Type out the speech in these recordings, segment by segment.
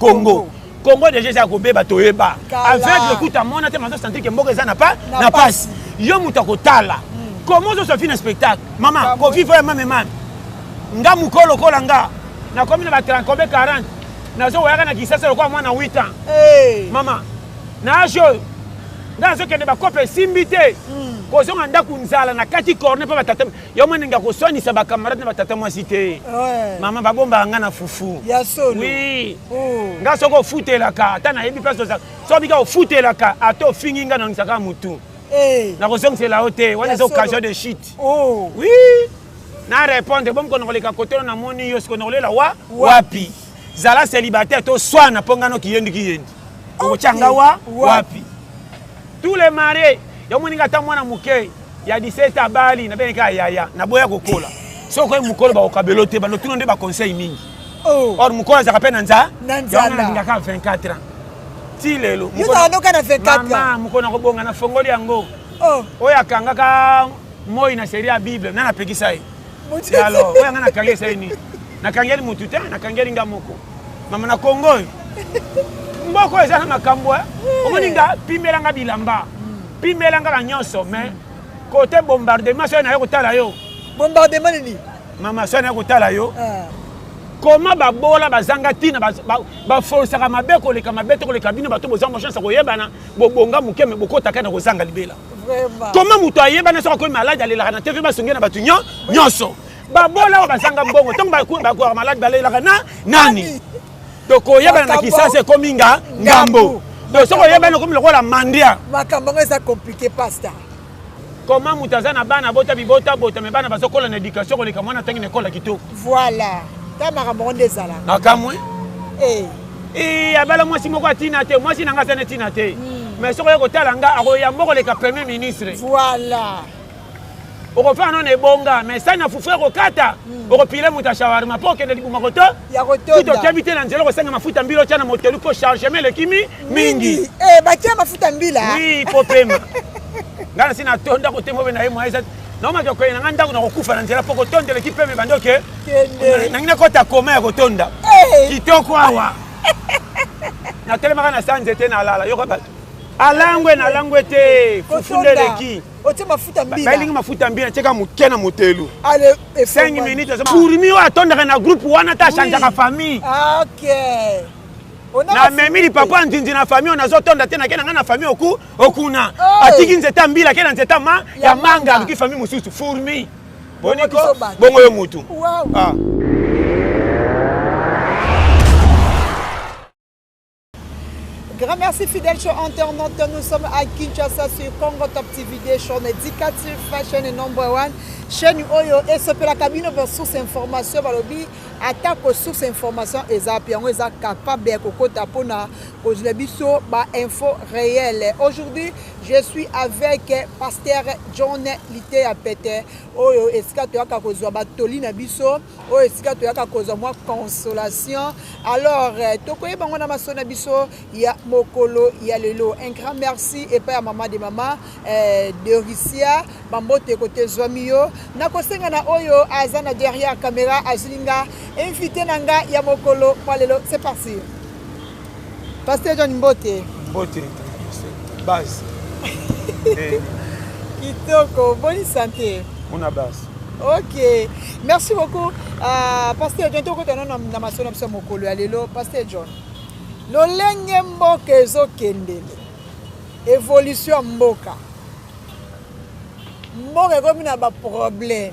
Congo Congo déjà eza kobeba toyeba aveugle kuta mona te mazo sentir que mboka eza na pa na pasi yo moto akotala hmm. comment ozosa fina spectacle mama kofi voya mame mame nga mokolo lokola nga nakomi na ba 30 40 nazokoyaka na kisasa lokola mwana 8 ans mama na age oyo ngai azokende bakope esimbi te hmm. kozonga ndako nzala na kati corne mpo batata yo mwana nge akoswanisa bacamarade na batata mwasi te mama babombaka ngai na fufu wi oh. ngai soki ofutelaka ata nayebi mpe soki bika ofutelaka ata ofingi ngai nangisaka motu eh. nakozongisela yo te wana eza occasion de chute oh. wi na répondre bomi konokoleka kotolo namoni yo sikonokolela wa wapi zala célibataire to swana mpo nga noki yendi ki yendi okotya nga wa wapi tous les marie yo moninga ata mwana moke ya 17 abali na beneka yaya na boya kokola soki okoyi mokolo bakokabelo te bando tuna nde baconseil mingi oh. or mokolo azalaka mpe na nza yangoalingaka 24 ans ti lelo mama mokolo nakobonga na fongoli yango oh. oyo akangaka moi na serie ya bible nani apekisa ye Ya alors, oyo nga nakangi esali nini? Nakangeli mutu te, nakangeli nga moko. Mama na Congo oyo. Mboka oyo eza na makambo eh. Omoni nga pimela nga bilamba. Pimela nga na nyonso mais kote bombardement soki naye kotala yo. Bombardement nini? Mama soki naye kotala yo. Ah. Comment babola bazanga tina baforsaka mabe koleka mabe to koleka bino bato bozanga chance ya koyebana bobonga moke me bokotaka na kozanga libela koma moto ayebana soki akomi maladi alelaka na tv basongi na bato nyonso babola oyo bazanga mbongo ntango bakuaka maladi balelaka na nani tokoyebana na kisasa ekomi nga ngambo donc soki oyebani okomi lokola mandia makambo yango eza komplike pasta koma moto aza na bana bota bibota bota me bana bazokola na éducation koleka mwana ntangi na ekola kitoko voilà ta makambo yango nde ezala nakamwe eh. ee abala mwasi moko ya ntina te mwasi na ngai aza na ntina te hmm. mais soki oye kotala ngai akoyamba okoleka premier ministre voilà okofana no na ebonga mais sani na fufu ekokata hmm. okopile moto ya shawarma mpo okende libuma koto kutu okebi te na nzela okosenga mafuta mbila otya na motelu mpo chargement elekimi mingi eh, batya mafuta mbila wi kopema ngai nasi natonda kotembo mpe na ye mwa naomaki okoye na ngai ndako nakokufa na nzela mpo kotonda eleki mpeme bando ke nangi nakota koma ya kotonda eh. kitoko awa natelemaka na sa nzete nalala yoka bato alangwe nalangwe te fufu nde eleki otie mafuta mbila balingi mafuta mbila tieka moke na motelu 5 minutes kurmi oyo atondaka na groupe wana ta changeaka famille ah, namemi lipapa nzinzi na famille oyo nazotonda te nake na ngai na famille oku okuna atiki nzete ya mbila ake na nzete ma ya manga aluki fami mosusu fourmi boniko bongo yo mutu ah. Grand merci fidèle show internaute. Nous sommes à Kinshasa sur Congo Top TV des shows éducatif fashion et number one. Chaîne Oyo et ce la cabine pour source information balobi attaque aux sources information et ça puis on est capable de kokota pona Kozela biso ba info reel. Aujourd'hui je suis avec pasteur John Liteya Pete oyo esika toyaka kozwa ba toli na biso oyo esika toyaka kozwa mwa consolation. Alors tokoyeba ngo na maso na biso ya mokolo ya lelo. Un grand merci epa ya mama de mama eh, de Russia bambote kote zwami yo nakosenga na oyo aza na derrière camera azulinga invité na nga ya mokolo mwa lelo c'est parti. Pasteur John Mbote. Mbote base. Eh. Kitoko, bonne santé. On a base. Ok, merci beaucoup. Uh, Pasteur John, tokota na na maso na biso mokolo ya lelo. Pasteur John, lolenge mboka ezokendele, evolution ya mboka, mboka ekomi na baproblème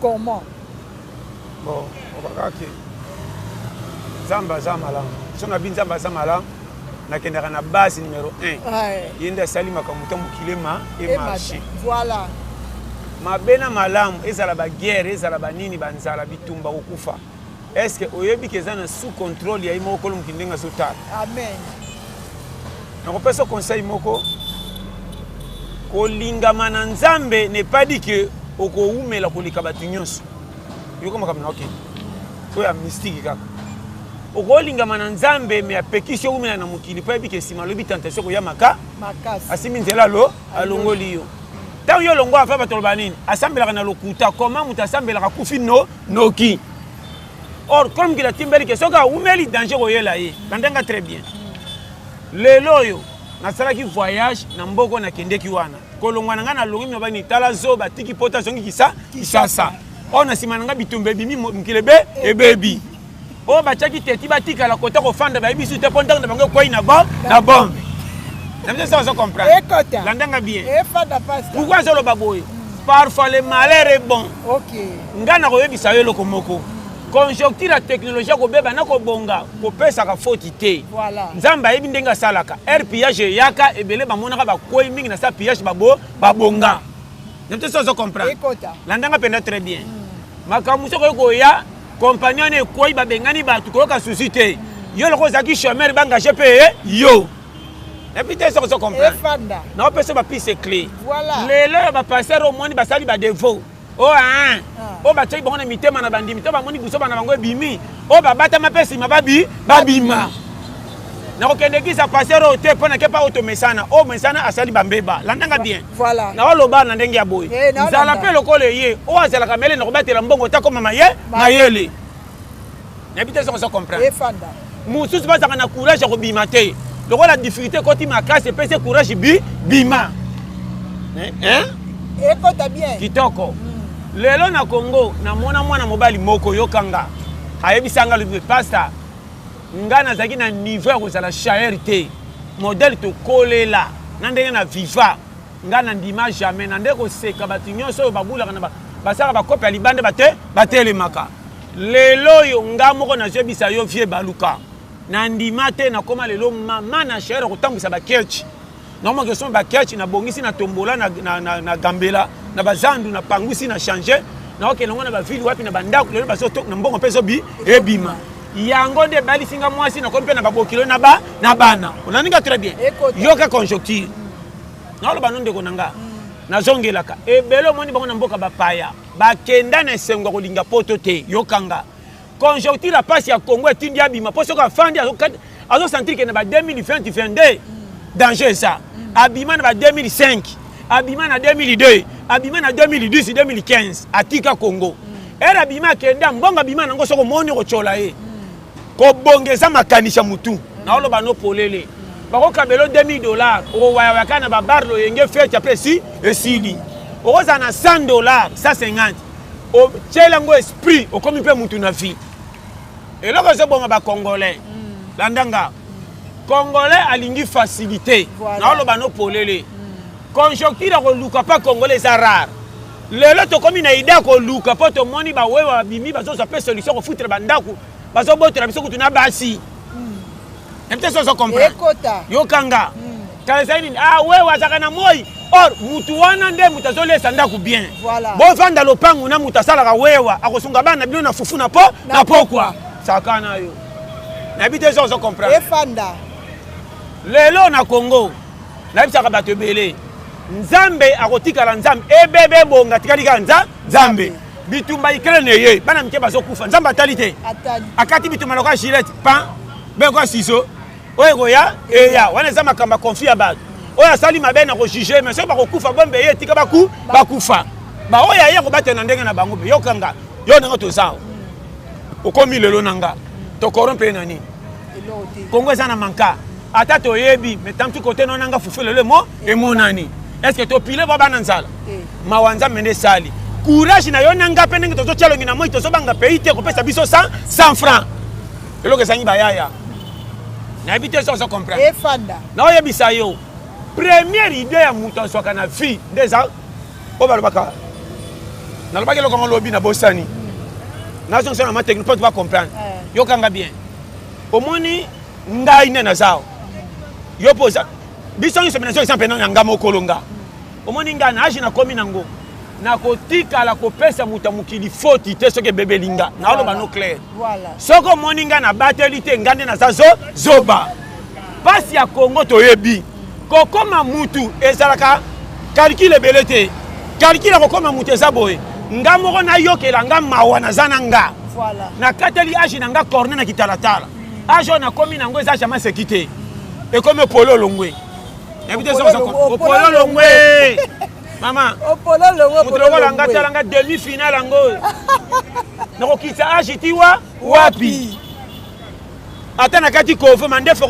comment bon okaka ke nzambe aza malamu so nabi nzambe aza malamu nakendaka na base numero 1 ye nde asali makambo ta mokili ma emarche voilà mabe na malamu ezala baguerre ezala banini banzala bitumba kokufa est ce que oyebi ke eza na sous contrôle ya ye moko kolo mokili ndenge azotala amen nakopesa conseil moko kolingama na nzambe ne pas dit ke okowumela koleka bato nyonso yoka makambo na okende oyo ya mystike kaka okolingama na nzambe me apekisi owumela na mokili mpo ayebi ke nsima alobi tentation koya maka asimbi nzela alo alongoli yo ntango yo olongwa ava bato aloba nini asambelaka na lokuta koma moto asambelaka kufi no noki or comme kila timbeli ke soki awumeli danger koyela ye landanga très bien lelo oyo nasalaki voyage na mboko nakendeki wana kolongwa na ngai nalongi minobani tala zoba tiki pota azongi kisa kisasa oyo na nsima na ngai bitumba ebimi mokili ebe ebebi oyo batiaki teti batikala kota kofanda bayebi su te mpo ntango na bango ekwei na bom na bombe na biso sa ozo comprendre landanga bien pourkoi azoloba boye parfois le malheur est bon ngai nakoyebisa yo eloko moko conjoncture ya technologie ya kobeba na kobonga kopesaka foti te nzambe ayebi ndenge asalaka air pillage eyaka ebele bamonaka bakwei mingi na sa pillage babo babonga na biso sa ozo comprendre landanga mpenza très bien hmm. makambo soki okoya compagnie wana ekwei babengani bato koyoka susi te yo loko ozalaki chomeur bangage mpe eh? yo epuis te soki ozokomprendre naopesa bapise cle lelo ya bapaster omoni basali badevo o oh, ah. oyo batiaki bango na mitema na bandimi to bamoni busoba na bango ebimi oyo oh, babatama mpe nsima babi babima nakokende kisa paster oyo te mpo nake mpa oyo tomesana oyo oh, mesana asali bambeba landanga bien Voilà. Na waloba na ndenge ya boye. Eh, Zala pe lokola ye. O azala kamele na kobatela mbongo ta koma maye. Mayele. Na bite soko soko comprendre. Efanda. Mususu bazaka na courage ya kobima te. Lokola difficulté koti makasi epese courage bi bima. Hein? Hein? Ekota bien. Kitoko. Mm. Lelo na Congo na mona mwana mobali moko yokanga. Ayebisanga le pasteur Nga nazalaki na niveau ya kozala chair te. Modèle tokolela na ndenge na viva. Nga na ndima jamais na nde koseka bato nyonso oyo babulaka na ba basaka ba kope ya libanda bate batelemaka. Lelo oyo nga moko nazwebisa yo vieux Baluka. Na ndima te nakoma lelo mama na chair ya kotambwisa ba ketch. na mwa question bakiachi nabongisi na tombola na, na, na, na gambela na bazandu na pangusi na change naokende yango na bavile wapi na bandako lelo na mbongo mpe ezobi ebima yango nde ebalisi nga mwasi nakomi mpe na babokilo na ba na bana onaninga très bien yoka conjoncture naoloba no ndeko na nga mm. nazongelaka ebele omoni bango na mboka bapaya bakenda na esengo ya kolinga poto te yokanga conjoncture ya pasi ya congo etindi abima mpo soki afandi azosentire kende ba 2022 danger eza abima na ba 2005 abima na 2002 abima na 2010 2015 atika congo ere abima akenda mbongo abima nango soki omoni okotyola ye kobonga eza makanisi ya motu naoloba no polele bakokabela 2000 dollar okowayawaya kaka na babar loyenge feti apesi esili okozala na 100 dollar 150 otyela yango esprit okomi mpe mutu na vie eloko ezoboma bacongolais mm. landa nga congolais alingi facilité naoloba no polele mm. conjoncture ya koluka mpa congolais eza rare lelo tokomi na idea koluka mpo tomoni bawewe babimi bazozwa mpe solution kofutra bandako bazobotola biso kutu na basi mm. epte sozo comprendre yokanga kala ezali nini ah wewe azalaka na moi or mutu wana nde moto azolesa ndako bien voilà. bovanda lopangu na moto asalaka wewa akosunga bana bino na fufu na po na pokwa saka na yo nayebi te ozo comprendre efanda lelo na congo nayebisaka bato ebele nzambe akotikala nzambe ebebe ebonga atikali kaka nza nzambe bitumba ukraine eye bana mike bazokufa nzambe atali te akati bitumba lokola gilete pan bekoa siso oyo ekoya eya wana eza makambo ya conflit ya bato oyo asali mabe na kojuge mais soki bakokufa bombe ye etika baku bakufa baoyo aye kobatela na ndenge na bango mpe yokanga yo ndenge toza okomi lelo na nga tokorompe ye na nini kongo eza na manka ata toyebi mais tantu kote no nanga fufu lelo emo emonani est ce que topile bwa bana nzala eh. mawa nzambe nde esali courage na yo na nga mpe ndenge tozotya longi na moi tozobanga pays te kopesa biso 100 francs eloko ezangi bayaya nayebi te soki ozo comprendre efanda naoyebisa yo première idée ya moto azwaka na vie nde eza oyo balobaka nalobaki eloko yango lobi na bosani nazongisa na ma technique mpo tobacomprendre eh. yokanga bien omoni ngai nde naza yo mpo oza biso nyonso mpe nazongisa mpe na nga mokolo nga omoni ngai na age nakomi nango nakotikala kopesa moto ya mokili foti te soki ebebeli nga naoloba no claire soki omoni ngai nabateli te ngai nde naza zo zoba mpasi ya kongo toyebi kokoma mutu ezalaka kalkile ebele te kalkile ya kokoma mutu eza boye nga moko nayokela nga mawa naza na nga nakateli age na nga corne na kitalatala age oyo nakomi nango eza jamai seki te ekomi pololongwe opololongwe mama moto lokola nga tala nga demi finale yango oyo nakokitisa age ti wa wapi ata na kati kovo mandefu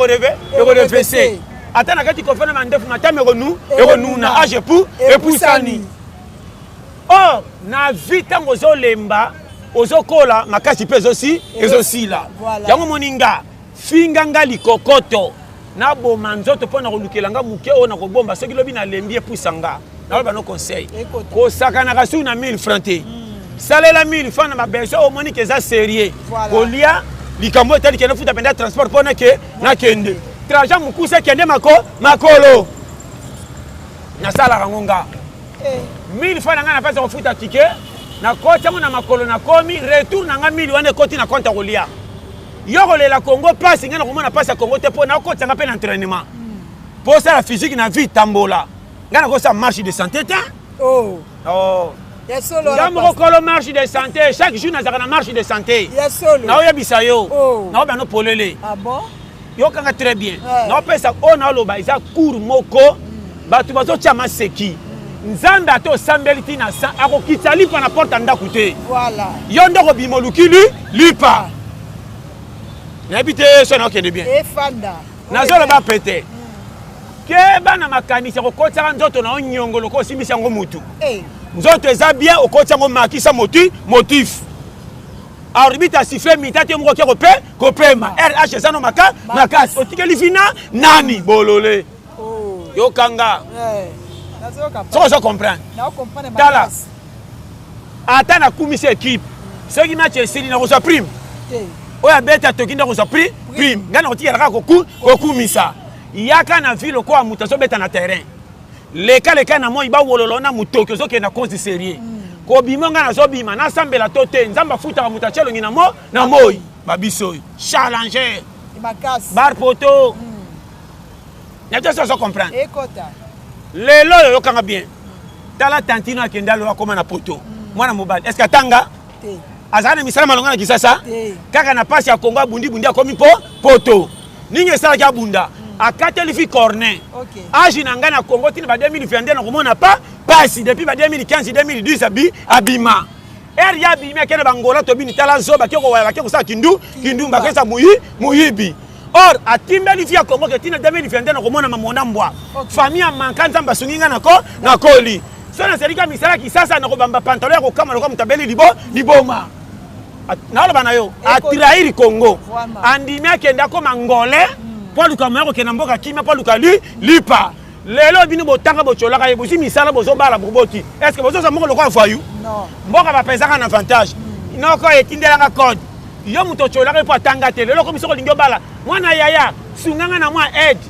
ekorevese ata na kati kovo na mandefu matama ekonu ekonuna age epu epusani o oh, na vi ntango ozolemba ozokola makasi mpe ezosila yango moninga finga nga likokoto naboma nzoto mpo na kolukela nga moke oyo nakobomba soki lobi nalembi epusa nga naoyo bano conseil kosakanaka suki na 1000 franc te hmm. salela 1000 franc na babesoin omoni ke eza serieux kolia likambo etali kende futa mpenza transport mpo nake nakende traja mokuse ekende mako makolo nasalaka yango nga 1000 eh. franc na ngai na mpasi ya kofuta tike nakoti yango na makolo nakomi retour na ngai 1000 wana ekoti na konte ya kolia yo kolela congo pasi ngai nakomona pasi ya congo te mpo nakokotisa ngai mpe na entrainement mpo osala physique na vie tambola ngai nakosala marche de santé te oh. oh. nga moko kolo marche de santé chaque jour nazalaka na marche de santé naoyebisa yo oh. naobe ano polele ah yokanga très bien eh. naopesa oyo naoloba eza cour moko bato bazotya maseki nzambe ata osambeli ntina akokitisa lipa na porte ya ndako te yo nde okobima olukili lipa nayebi te so na okende bien efanda nazoloba pete keba na makanisi ya kokotisaka nzoto na yo nyongo lokola osimbisi yango motu eh. nzoto eza bien okotisa yango makisa moti motif arbitre asifle mita te moko kia kopema rh eza no makasi otikeli fina nani bolole yoka nga soki ozo comprendre tala ata nakumisi ekipe soki match esili nakozwa prime oyo abeti atoki nde akozwa prime prime ngai nakotikela kaka kokumisa yaka na ville okoa moto azobeta na terrain leka leka na moi bawololo na motoki ozokende na konzi serie mm. kobima ngai nazobima nasambela to te nzambe afutaka moto atya elongi na moi babiso oyo challenger barpoto mm. nayebi te ozo comprendre lelo oyo oyokanga bien tala tantino akende alo akoma na poto mm. mwana mobali est ce que atanga azala na misala malonga na kisasa kaka na mpasi ya kongo abundibundi akomi mpo poto nini esalaki abunda mm. akateli fi corne age na ngai na kongo tina ba 2022 nakomona pa pasi depuis ba 2015 2010 abi abima ere ya abimi akende bangola tobini tala zoba ke kowaya bake kosala kindu kindumba akesa muyibi or atimbeli vi ya kongo ke ntina 2022 nakomona mamona mbwa famille ya manka nzambe asungi ngai nako nakoli so nasalika misala kisasa nakobamba pantalo ya kokama lokola moto abeli libo liboma naoloba na yo atrahir congo andimi akende akoma ngole mpo aluka moya kokenda mboka kimia mpo aluka lipa lelo bino botanga bocolaka ye bozwi misala bozobala boboti est ce que bozoza moko lokola voyou mboka bapesaka na avantage hmm. noko etindelanga code yo moto ocolaka ye mpo atanga te lelo okomi soki olingi obala mwana yaya sunganga na mwa aide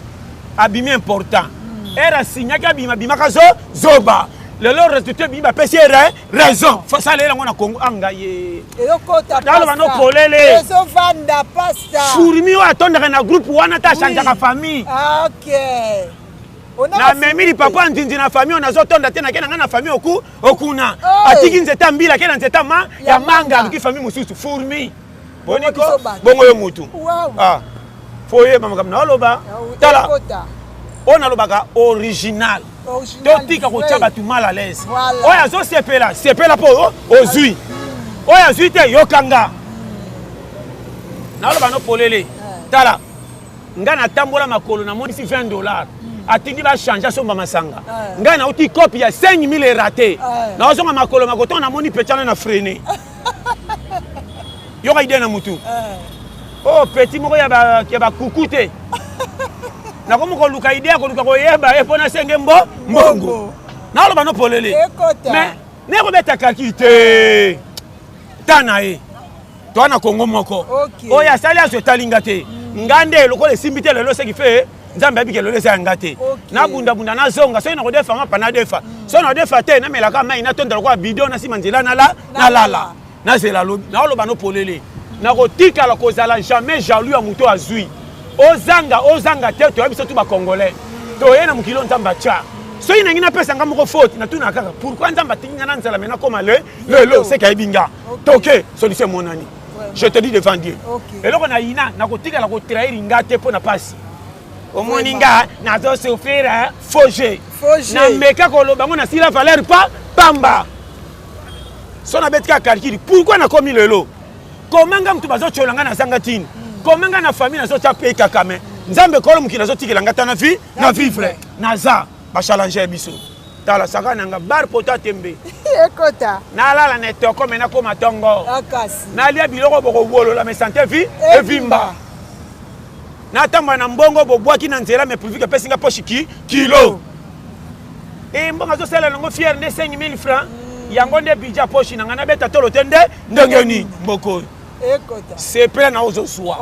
abimi important hmm. ere asignaki abima abimaka zo zoba lelo resultat ebimi bapesi ere raison fasala elango na congo anga ah, ye eyokotaloba no polele ezovanda pasta furmi oyo atondaka na groupe wana ta achangeaka famille ah, okay. namemi lipapa nzinzi na famille oyo nazotonda te nake na ngai na famille oku okuna atiki nzete ya mbila ake na nzete ya manga aluki famille mosusu furmi boni ko bongo yo mutu ah fo oyeba makambo na oloba tala oyo nalobaka original totika kotya bato mal à l'aise oyo azosepela sepela mpo oh, ozwi hmm. oyo azwi te yokanga naloba no polele eh. tala ngai natambola makolo namonisi 20 dollars hmm. atindi bachange asomba masanga eh. ngai nauti kopi ya 5000 erate eh. naozonga makolo makotonga namoni pecana na frene yoka idee na mutu eh. oh petit moko ya bakuku te nakomi koluka idee ya koluka koyeba ye mpo nasenge mbo mbongo naloba no polele mais nekobeta kaki te ta na ye toa na kongo moko oyo asali aso etali nga te nga nde lokola esimbi te lelo seki fe nzambe ayebi kelelo eza ya nga te nabundabunda nazonga soki nakodefa nga pa nadefa mm. soki nakodefa te namelaka mai natonda lokola bido nasima nzela nalala nazela lobi naoloba nopolele nakotikala kozala jamais jaloux ya moto azwi ozanga ozanga te toyebi biso tu bacongolais mm. toye na mokili oyo nzambe atya soki nangi napesa nga moko faute natuna kaka pourkui nzambe atingi nga na nzela me nakoma le lelo seke ayebi nga toke solution emonani je te dis devant dieu eloko na yina nakotikala kotrahir nga te mpo na mpasi omoni nga nazo souffrir faux jeu nameka koloba yango nasila valeur pa pamba so nabeti kaka calcule pourkui nakomi lelo koma nga moto bazotyola nga nazanga tini hmm. koma nga na famille nazotya mpe kakame nzambe kolo mokili azotikela nga ta na vie na vivre naza ba challenge biso tala saka nanga bar pota tembe ekota nalala na etoko me nakoma tongo ah, nalia biloko bokowolola me sante vi evimba natamba na mbongo bobwaki na nzela me privike epesi nga poshi ki kilo e eh, mbongo azosala nango fiere nde 5000 franc mm. yango nde bidja poshi na ngai nabeta tolo te nde ndenge nini mboko oyo sepela na ozozwa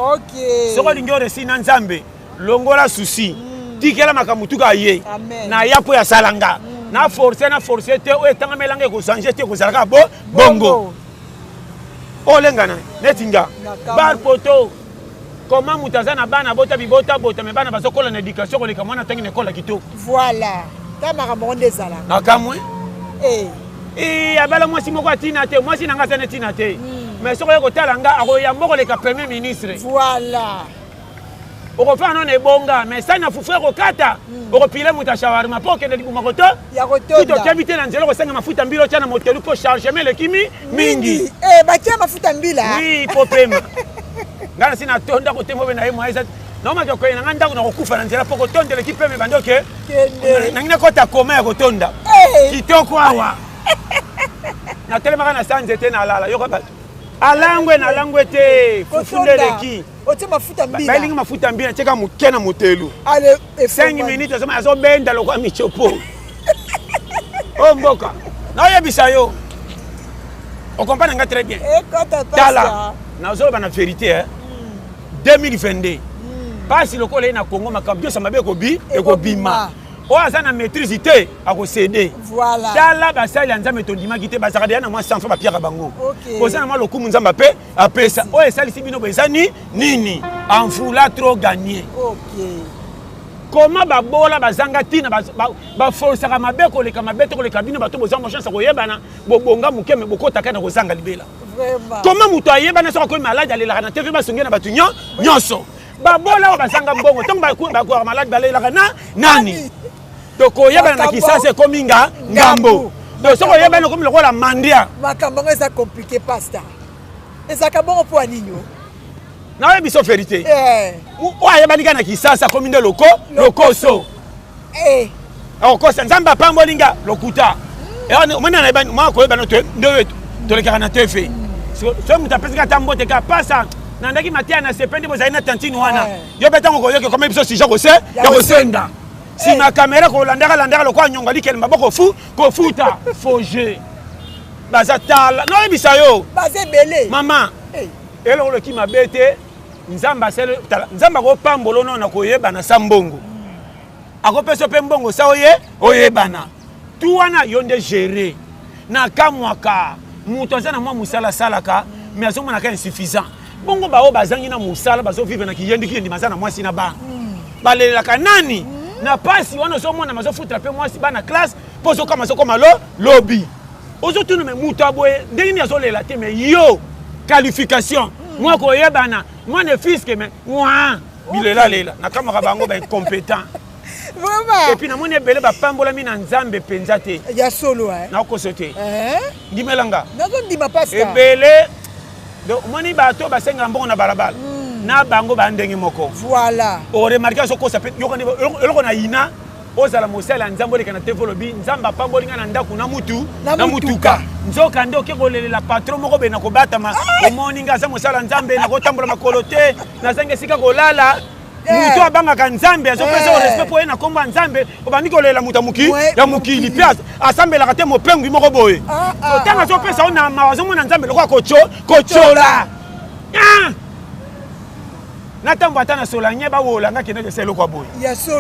soki olingi oresi na nzambe longola susi mm. tikela makambo tuka aye naya mpo ya sala nga mm. na force na force te oyo etangama elanga ekozange te ekozala kaka bo bongo olengana neti nga bar poto koma moto aza na bana bota bibota bota me bana bazokola na éducation koleka mwana ntangi na ekola kitoko voilà ta makambo ngo nde ezala nakamwe eh. eh, abala mwasi moko atina te mwasi na nga aza na ntina te hmm. mais soki oye kotala nga akoyamba koleka premier ministre voilà okofana na ebonga mais sani na fufu ekokata hmm. okopile moto ya shawarma mpo okende libuma koto kutu okebi te na nzela okosenga mafuta mbila otya na motelu mpo chargement elekimi mingi eh, batya mafuta mbila wi mpo pema ngai nasi natonda kotembo mpe na ye mwaisa naomaki okoye na ngai ndako na kokufa na nzela mpo kotonda eleki pema ebandi oke nangi nakota koma ya kotonda eh. kitoko awa natelemaka na sanze te nalala yoka bato alangwe nalangwe te fufu nde eleki otie mafuta mbila balingi mafuta mbila tie ka moke na motelu 5 minutes azoma azobenda lokola michopo o oh, mboka naoyebisa yo okomprane nga très bien tala nazoloba na verité eh? 2022 mpasi lokola ye na congo makambo nyonso mabe ekobi ekobima oyo aza na maîtrise te akosede tala basali ya nzambe tondimaki te bazalaka deya na mwa sanfa bapiaka bango koza na mwa lokumu nzambe ape apesa oyo esalisi bino bo eza ni nini envoula trop gagne okay. koma babola bazanga ntina baforsaka mabe koleka mabe to koleka bino bato bozanga chance ya koyebana bobonga moke me bokotaka na kozanga libela koma moto ayebana soki akomi maladi alelaka na tv basongi na bato nyonso babola oyo bazanga mbongo ntango bakuaka maladi balelaka na nani donc koyebana na kisasa ekomi nga ngambo donc soki oyebani okomi lokola mandia makambo yango eza komplike pasta ezalaka bongo mpo ya nini o nayebi so verité eh. oyo ayebani kaka na kisasa akomi nde loko lokoso eh. akokosa nzambe apamboli nga lokuta hmm. omoni nayebani mwa koyebana nde tolekaka na tefe soki moto apesaki ata mbote ka pasa nandaki mateya na sepe nde bozali na tantine wana eh. yo mpe ntango koyoki okomi biso sija ya kosenda sima ya kamera kolandaka landaka lokola nyongo alikele maboko fu kofuta foge baza tala noyebisa yo baza ebele mama eh. eloko oloki mabe te nzambe asali tala nzambe akopambola ono na koyebana sa mbongo hmm. akopesa mpe mbongo sa oye oyebana tu wana yo nde gere nakamwaka moto aza na mwa mosala asalaka mais azomonaka insuffisant bongo baoyo bazangi na mosala bazovivre na kiyendikiyindi baza na mwasi na bana hmm. balelelaka nani hmm. na mpasi wana ozomona mazofutela mpe mwasi bana classe mpo ozokama azokoma lo lobi ozotuna me moto ya boye ndenge nini azolela te me yo qualification hmm. mwa koyebana mwa ne fiske me mwa bilelalela nakamaka bango baincompétent epuis namoni ebele bapambolami na nzambe mpenza te ya solo nakoso te eh? ndimelanga ebele Donc omoni bato oyo basengaka mbongo na balabala hmm. na bango baa ndenge moko. Voilà. Oremarke azokosa mpe yokani eloko na yina ozala mosali ya nzambe oleka na tv olobi nzambe apamboli ngai na ndako na mutu na mutuka nzoka nde oke kolelela patron moko bena kobatama ah! omoni ngai aza mosali ya nzambe nakotambola makolo te nazangi esika kolala moto abangaka nzambe azopesa yo respect mpo ye na nkombo ya nzambe obandi kolela moto ya mokili mpe asambelaka te mopengwi moko boye ah, ah, otanga ah, azopesa yo na mawa azomona nzambe lokola kotyola na ntango ata na solanye bawola nga kende kesa eloko ya boye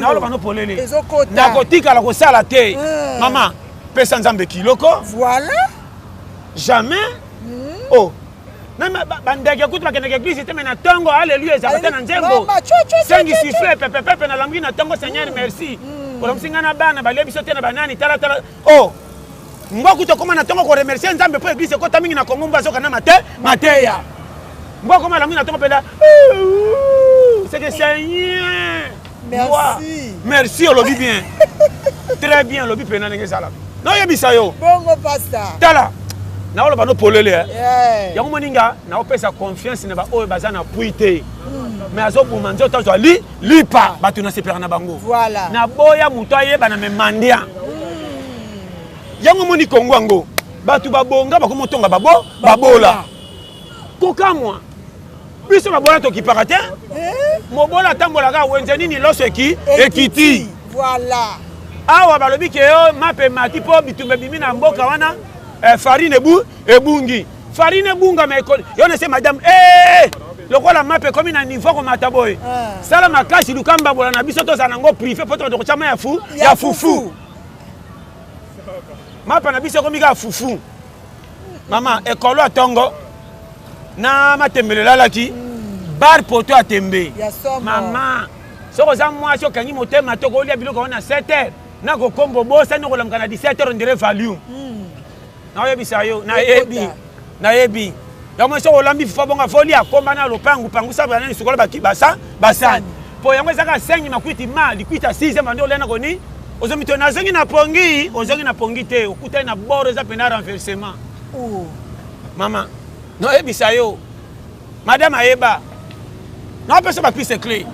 naoloba no polele nakotikala kosala te hmm. mama pesa nzambe kiloko voilà jamais hmm. oh meme bandeke kutu bakendaka eglise te me na ntongo aleluya ezalaka te na nzembo sengi sifle pepepepe nalambuki na ntongo seigneur merci mm. olomisi ngai na bana balie biso te na banani talatala o oh! mbwa kutu okoma na ntongo koremercie nzambe mpo eglise ekota mingi na kongo mbwa azoka na mate mateya mbwa okoma alambuki na ntongo mpela seke seigneur Merci. Merci olobi bien. Très bien olobi pena ndenge ezala. Noyebisa yo. Bongo pasta. Tala. naoloba no polele eh. yeah. yango moni nga naopesa confiance na baoyo baza na pui te mm. me azobuma nzoto azwa li lipa ah. bato nasepelaka na bango voilà. naboya moto ayebana me mandia mm. yango moni kongo yango bato babonga bakomi otonga babo babola kokamwa biso babola tokipaka te eh? mobola atambolaka wenze nini loso eki ekiti voilà awa balobi ke yo mape mati mpo bitumba ebimi na mboka wana eh, farine ebu ebungi farine ebungama ekoli yo nese madame eh! lokola mape ekomi na niveau akomata boye eh. sala makasi luka mbabola na biso tozala nango prive mpo tokende kotyama ya fu ya fufu mapa na biso ekomi kaka fufu mama ekolo ya tongo na matembele elalaki mm. bar poto ya tembe mama soki oza mwasi okangi motema to kolia biloko yango na 7 heure na kokomba obosani okolamuka na 17 heure ondire valium mm. naoyebisa yo nayebi nayebi yango esi olambi fufa bongo afoli akomba na lopangu pangusa banani sukola bakibasa basani mpo yango ezaka sengi makwiti ma likwiti ya 6 bande olena koni ozongi to nazongi na pongi ozongi na pongi te okutani na bord eza mpena renversement oh. mama noyebisa yo madame ayeba napesa bapise cle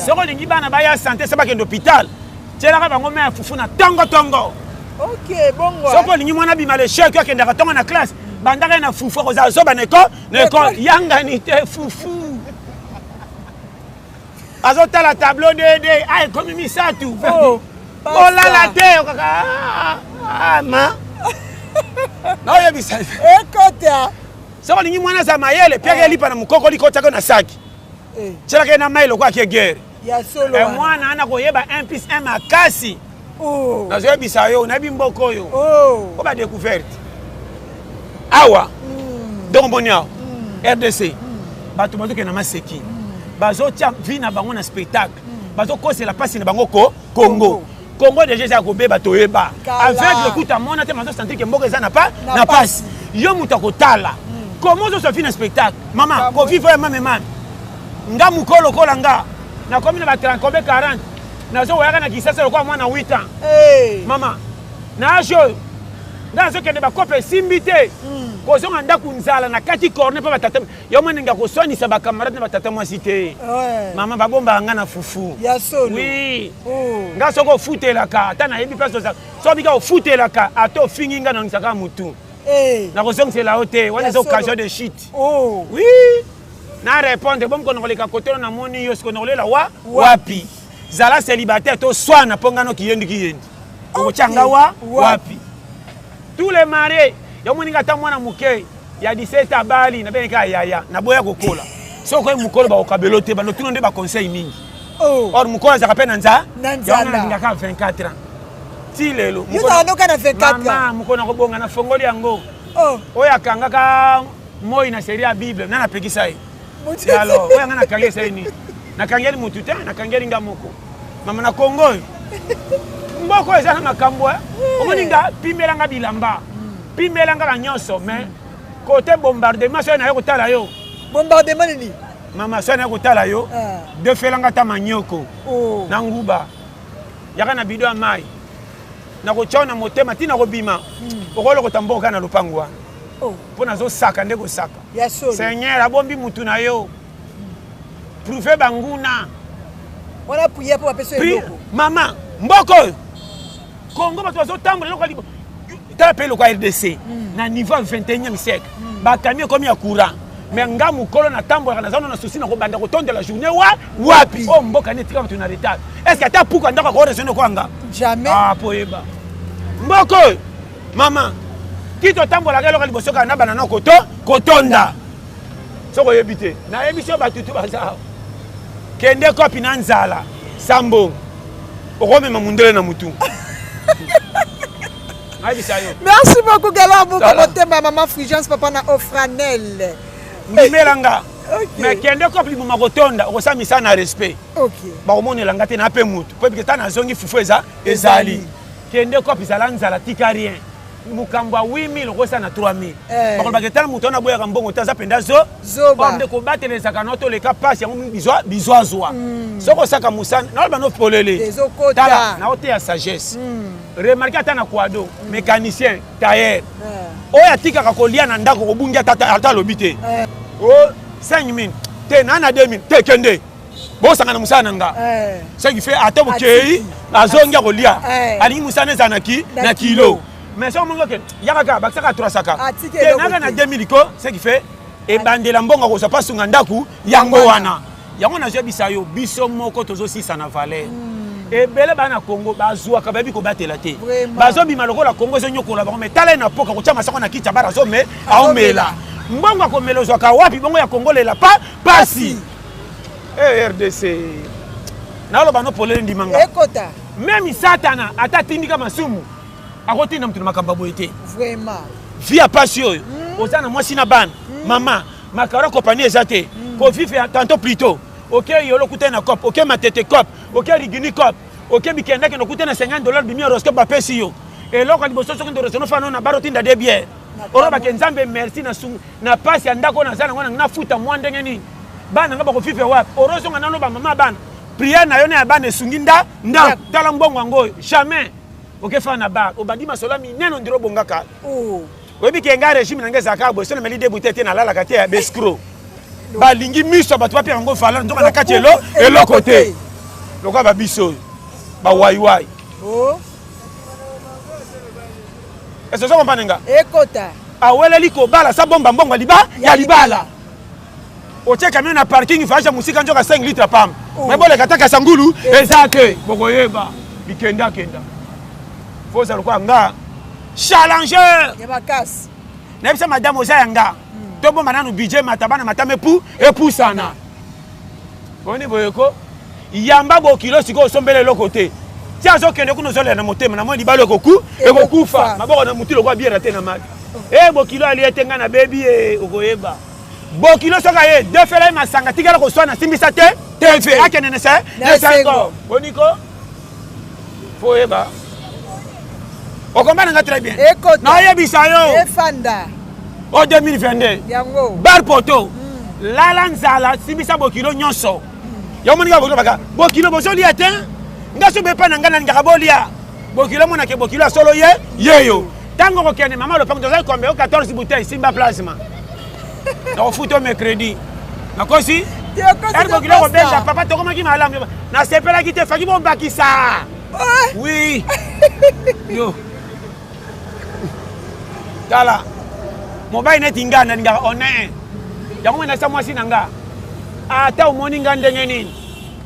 soki olingi bana baya sante se bakende hôpital tyelaka bango mai ya fufu na tongotongo okay, bongo soki olingi mwana bima le chek akendaka ntongo na classe bandaka ye na fufu akozala zoba na eko na eko yangani te fufu azotala tableau dede a ah, ekomi misato oh, olala te okaka ah, ah, ma naoyebisa ekota soki olingi mwana aza mayele mpe akelipa na mokoko likotako na saki eh. tyelaka ye na mai lokola ake gere ya solo eh, mwana ana koyeba 1 plus 1 makasi oh. nazoyebisa yo nayebi mboka oyo oh. po badecouverte awa mm. donc omoni awa mm. rdc mm. bato bazokende na maseki mm. bazotya vi na bango na spectacle mm. bazokosela mpasi na bango ko kongo, kongo. Congo deja eza ya kobeba toyeba aveugle kutu amona te mazo sentir ke mboka eza na pa na pasi yo moto akotala hmm. comment ozo sofi na spectacle mama kofi voya mame mame nga moko lokola nga nakomi na ba 30 kobe 40 nazo wayaka na kisasa lokola mwana 8 ans mama na age oyo nga nazokende bakope esimbi te hmm. kozonga ndako nzala na kati corne mpe batata yo mwana nga koswanisa bacamarade na batata mwasi te mama babombaka nga na fufu wi oh. nga soki ofutelaka ata nayebi place oza soki bika ofutelaka ata ofingi nga nangisaka motu eh. nakozongisela yo te wana eza occasion de chute oh. wi na répondre bomkonokoleka kotolo namoni yo sikonokolela wa wapi zala celibataire to swana mpo nga noki yendi ki yendi okotya nga wa wapi tous les marie yo moninga ata mwana moke ya 17 abali na bengeka yaya na boya kokola soki okoyi mokolo bakokabelo te bando tuna nde baconseil mingi oh. or mokolo azalaka mpe na nza yango nalingaka 24 ans ti lelo mama mokolo nakobonga na fongoli yango oh. oyo akangaka moi na serie ya bible nana apekisa ye Ya alors, oyo nga nakangi esali nini? Nakangeli mutu te, nakangeli nga moko. Mama na Congo oyo. Mboka oyo eza na makambo eh. Omoni nga pimela nga bilamba. Pimela nga na nyonso mais kote bombardement soki naye kotala yo. Bombardement nini? Mama soki naye kotala yo, Ah. defela nga ta manioko Oh. na nguba. Yaka na bido ya mai. Nakotya yo na motema ti nakobima. Okolokota mboka na lopango wana. Oh. Mpo nazosaka nde kosaka. seigneur abombi mutu na yo prouve banguna wana prière mpo bapesa eloko mama mboka oyo kongo bato bazotambola eloko alibo tala mpe eloko ya rdc hmm. na niveau ya 21e siècle hmm. bakami ekomi ya courant me nga mokolo natambolaka naza no na susi na kobanda kotondela journée wa wapi oyo oh, mboka nde etika bato na retard est ce que ata puku andako akoresone kwanga jamais ah, po yeba mboka oyo Mama, kito tambola kelo kali bosoka na banana koto kotonda. Soko yebite. Na emission batutu bazao. Kende kopi na nzala. Sambo. Okome mamundele na mutu. Merci beaucoup Galant pour motema maman Frigence papa na Ofranel. Ndimela nga. mais kende kope liboma kotonda okosamisa na respect bakomonela nga te na mpe motu mpo ebike ta nazongi fufu eza ezali kende kopi zala nzala tika rien mokambo ya 8000 okosa na 3000 eh. bakolobaka etala moto wana aboyaka mbongo te aza mpenza zo nde kobatelelesaka no toleka mpasi yango bizo azwa hmm. soki osaka mosana naloba no polele tala naoteya sagesse hmm. remarke ata na quado hmm. mécanicien tailleur eh. oyo atikaka kolia na ndako kobungi ata alobi te 5000 eh. te na na 2000 te kende bosangana mosala na nga eh. ce qui fait ata bokei azongi ya kolia eh. alingi mosala na ezala na kilo mais soki omongi oke yaka kaka bakisaka atrasaka tenaka na 2000 ko ce qui fait ebandela mbongo kozwa pasunga ndako yango wana yango nazoyebisa yo biso moko tozosisa na valeur hmm. ebele baa na congo bazwaka bayebi kobatela te bazobima lokola congo ezonyokola bango me tala ye na poka kotya masako na kiti ya bara azome aomela mbongo akomela ozwaka wapi bongo ya kongo lela pa pasi Eh, rdc naloba no polele ndima nga ekota meme satana ata atindika masumu akotinda moto na makambo ya boye te vraiment vi ya pasi oyo mm. oza na mwasi na bana mm. mama makaro compagnie eza te mm. kovive ya tanto plito oke okay, yolo kutai na cop oke okay, matete cop oke okay, rigini cop oke okay, bikendakende okutai na 50 dollar bimi horoscope bapesi yo eloko ya liboso soki ndorosono fana na baro tinda de biere olobake nzambe merci na sungu na pasi ya ndako naza nango nanga nafuta mwa ndenge nini bana nga bakofifre wapi orozonga nano bamama bana priere na yo na ya bana esungi nda nda tala mbongo yango oyo jamais okefana na bar obandi masolo minene ondiro obongaka oh. oyebi ke nga régime na nga ezalaka boye so nameli de bute te nalalaka te ya bescro balingi miso ya bato bapia yango valeur nzoka na kati eloko te lokola babiso oyo bawaiwai oh. ese ozo kompane nga ekota aweleli kobala sa bomba mbongo ya liba ya libala otie kamio na parking vaja mosika nzoka 5 litre pam oh. me boleka taka sangulu eza te bokoyeba bikendakenda fo oza lokola nga challenger ya makasi nayebisa madame oza ya nga hmm. tobomba nanu budget matabana matama epu epusana omoni boye ko yamba bokilo sikoyo osombela eloko te ti azokende kuna ozolela na motema namoni libala ekoku ekokufa maboko na motu lokola biera te na mali e eh, bokilo alie te ngai nabebi e eh, okoyeba bokilo soki aye defela ye masanga tikala koswana asimbisa te akende na sengo boniko Faut yeba. O comprendre nga très bien. Écoute. Na yebisa yo. Efanda. O 2022. Yango. Bar poto. Mm. Lala nzala simisa bokilo nyonso. Mm. Yo moni ka bokilo baka. Bokilo bozo lia te. Nga so bepa na nga na ngaka bolia. Bokilo mona ke bokilo solo ye. Yeyo. Tango kokende mama lopango tozali kombe yo 14 bouteille simba plasma. Nakofuta mercredi. Nakosi? Tango kokende kobenda papa tokomaki malamu. Nasepelaki te faki bobakisa. Oui. Yo. Tala. Mobali neti nga nalingaka honneur. Yango mena sa mwasi na nga. Ata omoni nga ndenge nini.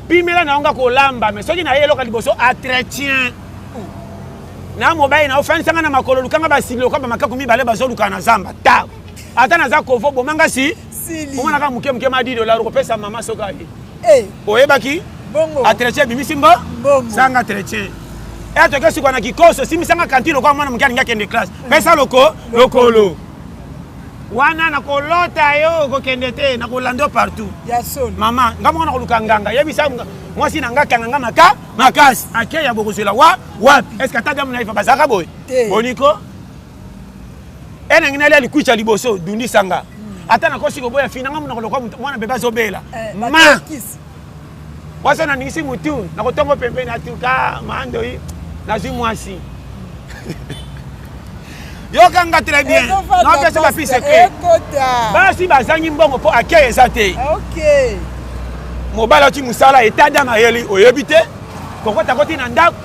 Pimela na yo nga kolamba me soki naye eloka liboso atretien na mobali na ofandisa nga na makolo lukanga basili lokola bamakaku mibale bazolukana na zamba ta ata naza kovo bomanga si omonaka moke moke madi dolar okopesa mama soki aye eh. oyebaki atretien ebimisi mbo sanga tretien etoke eh, sikoa na kikoso simisanga kanti lokola mwana moke alingi akende classe eh. pesa loko lokolo wana nakolota yo okokende te nakolanda partout mama nga moko nakoluka nganga yebisa mwasi na nga kanga nga maka makasi akeya bokozwela wa wapi est ce que ata damu na ifa bazalaka boye boniko enangi nalia likuiti ya liboso dundisa nga hmm. ata nakosi koboya fina nga monoko lokwa mwana bebe azobela eh, ma wasa naningisi motu nakotongo pembeni atuka mandoi nazwi mwasi yoka nga très bien napesa bafi secret basi bazangi mbongo mpo akei eza te mobali ati mosala etada mayeli oyebi te kokota koti na ndako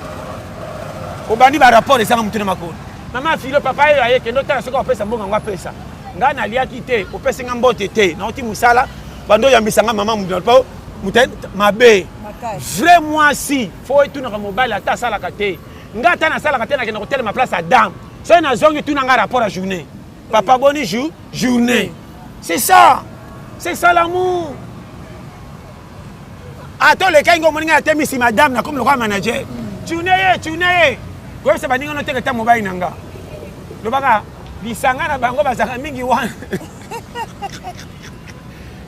obandi barapport ezanga motu na makolo mama filo papa oyo aye kende otala soki apesa mbongo yango apesa ngai naliaki te opesi ngai mbote te nauti mosala bando oyambisa ngai mama moto po mabe vrai mwasi fo etunaka mobali ata asalaka te ngai ata nasalaka te nakenda kotelema place ya dame soki nazongi tuna ngai rapport ya journée papa boni jour journée c'est ça c'est ça l'amour ata olekai ngo omoni ngai natemisi madame nakomi lokola manager tune ye tune ye koyebisa baninga noteka ta mobali na nga lobaka lisanga na bango bazalaka mingi wana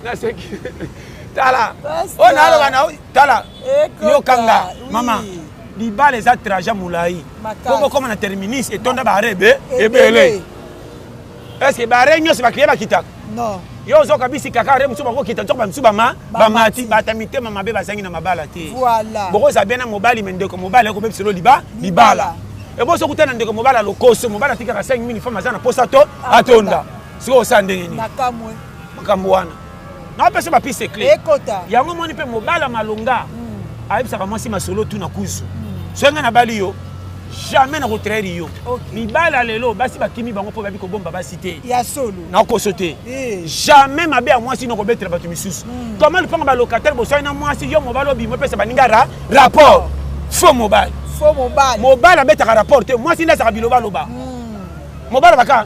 naseki tala oyo naloba na tala yokanga mama libala eza traja molai po bokoma na terminus etonda baare ebele Est-ce que bare nyonso ba client bakitaka? Non. Yo ozoka bisi kaka are mosusu bakokita nzoka bamosusu bama bamati bata mitema mabe bazangi na mabala te. Voilà. Bokoza bena mobali me ndeko mobali akobebisa lo liba libala. Eboso eh, kutana ndeko mobali alokoso mobali atikaka 5000 femme aza na posa to atonda. Sikoyo osala ndenge nini? Makambo wana. napesa bapiste eclair ekota yango moni mpe mobala malonga mm. ayebisaka mwasi masolo tu na kuzu mm. soki ngai nabali yo jamais nakotraire yo okay. mibala lelo basi bakimi bango mpo babi kobomba basi te ya solo nakoso te hey. Eh. jamais mabe ya mwasi nokobetela bato misusu mm. koma lupanga balocataire boswai na mwasi yo mobali obima opesa baninga ra rapport oh. faux mobali mobali abetaka rapport te mwasi nde azaka bilobaloba mm. mobali baka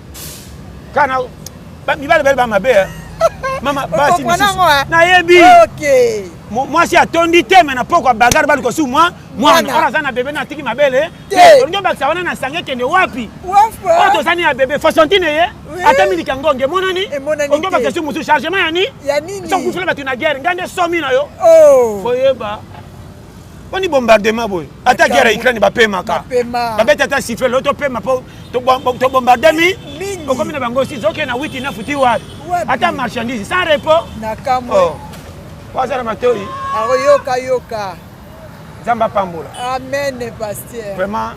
kana mibale bale bamabe eh. mama basi misusu eh. nayebi mwasi atondi te me na pokwa bagare bali kosu mwa mwana oyo aza na bebe na atiki mabele eh. olingi obakisa wana na sange ekende wapi oyo tozani ya bebe fasantine ye atami likangonge emonani olingi obakisa su mosusu chargement ya ni sokufela bato na guerre ngai nde somi na yo oh. foyeba boni bombardement boye ata guerre ya ukraine bapemaka babeti ata siffle lo topema mpo tobombarde mi okomi na bango si zoke na witi na futi wapi ata marchandise sans repos waza oh. na matoi akoyokayoka nzambe apambola amen paster vraiment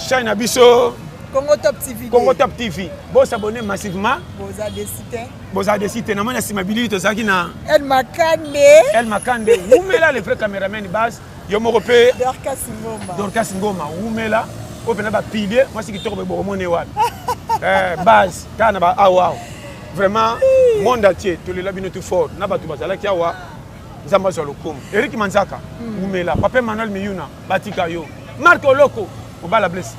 chaine na biso congo top tv congo top tv bosabone massivement boza desite bozala desi te namoni nsima bilili tozalaki na el makande el makande wumela le vrai cameraman base yo moko mpe dorcas ngoma wumela oyo mpena bapilier mwasi kitoko boye bokomone wapi eh, base kaka na baawawa vraiment monde entier tolela bino tout fort na bato bazalaki awa nzambe azwa lokumu erik manzaka hmm. wumela papa emmanuel miyuna batika yo marc oloko obala blesse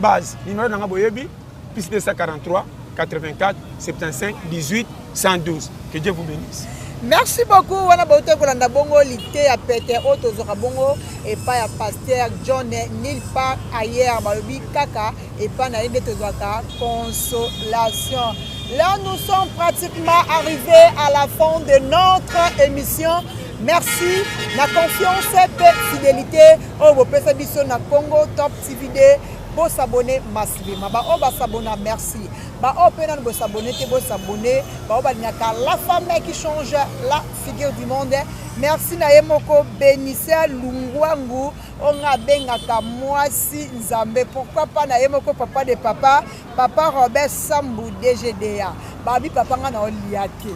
base nimero na ngai boyebi Plus 243 84 75 18 112. Que Dieu vous bénisse. merci beaucoup wana bautai kolanda bongo liteya pete oyo tozwaka bongo epai ya paster john nil part ayer balobi kaka epai na ye nde tozwaka consolation là nous sommes pratiquement arrivés à la fin de notre émission merci na confiance mpe fidélité oyo bopesa biso na congo top TV de bo s'abonner massivement ba oyo ba s'abonna merci ba oyo mpe nanu bo s'abonner te bo s'abonner ba oyo balingaka la femme qui change la figure du monde merci na ye moko benisia lungwangu oyo ngai abengaka mwasi nzambe pourquoi pas na ye moko papa de papa papa robert sambu dgda babi papa ngai na olia te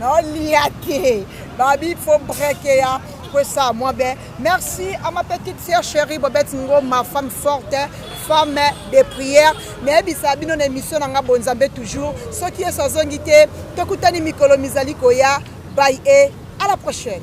na olia te babi fo brekeya kwesa mwa be Merci à ma petite sœur chérie Bobette Ngo, ma femme forte, femme de prière. nayebisa bino na émission na nga bonzambe toujours soki yesu azongi te tokutani mikolo mizali koya by e à la prochaine